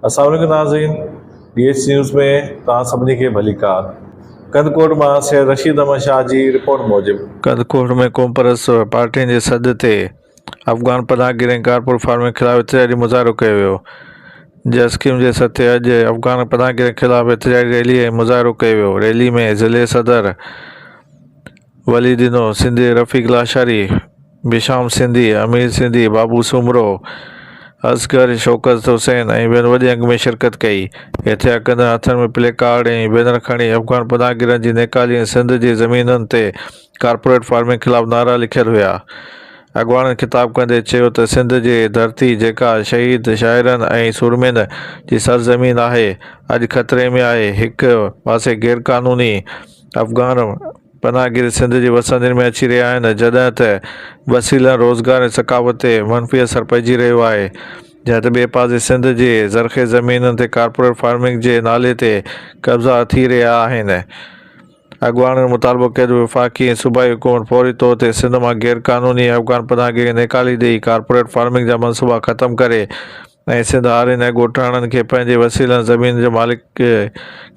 اسلام عليڪم ناظرين ڊي ايڇ نيوز ۾ توهان سڀني کي ڀليڪار ڪنڌڪوٽ مان سيد رشيد احمد شاهه جي رپورٽ موجب. ڪنڌڪوٽ ۾ قومپرست پارٽين جي سڏ تي افغان پناهه گيرن ڪارپول فارمنگ خلاف احتجاجي مظاهرو ڪيو ويو جسقيم جي سڏ تي اڄ افغان پناهه گيرن خلاف احتجاجي ريلي ۽ مظاهرو ڪيو ويو ريلي ۾ ضلعي صدر ولي ڏنو سنڌي رفيق لاشاري بشام سنڌي، امير سنڌي، بابو سومرو، اصغر، شوڪت حسين ۽ ٻين وڏي انگ ۾ شرڪت ڪئي. احتجاج ڪندڙن هٿن ۾ پلي ڪارڊ ۽ بينر کڻي افغان پناهگيرن جي نيڪالي ۽ سنڌ جي زمينن تي ڪارپوريٽ فارمنگ خلاف نعرا لکيل هيا. اڳواڻن خطاب ڪندي چيو ته سنڌ جي ڌرتي جيڪا شهيد شاعرن ۽ سورمين جي سرزمين آهي اڄ خطري ۾ آهي، هڪ پاسي غيرقانوني افغان، پناهگير سنڌ جي وسندين ۾ اچي رهيا آهن جڏهن ته وسيلن روزگار ۽ ثقافت تي منفي اثر پئجي رهيو آهي جڏهن ته ٻئي پاسي سنڌ جي زرخيز زمينن تي ڪارپوريٽ فارمنگ جي نالي تي قبضا ٿي رهيا آهن اڳواڻن مطالبو ڪيو ته وفاقي ۽ صوبائي حڪومت فوري طور تي سنڌ مان غيرقانوني افغان پناهگيري نيڪالي ڏئي ڪارپوريٽ فارمنگ جا منصوبا ختم ڪري ۽ سنڌ هارين ۽ ڳوٺاڻن کي پنهنجي وسيلن زمين جي مالڪ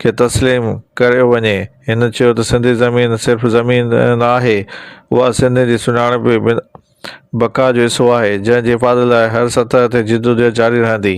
کي تسليم ڪريو وڃي. هن چيو ته سنڌي زمين صرف زمين نه آهي، اها سنڌين جي سڃاڻپ ۽ بقا جو حصو آهي، جنهن جي حفاظت لاء هر سطح تي جدوجهد جاري رهندي.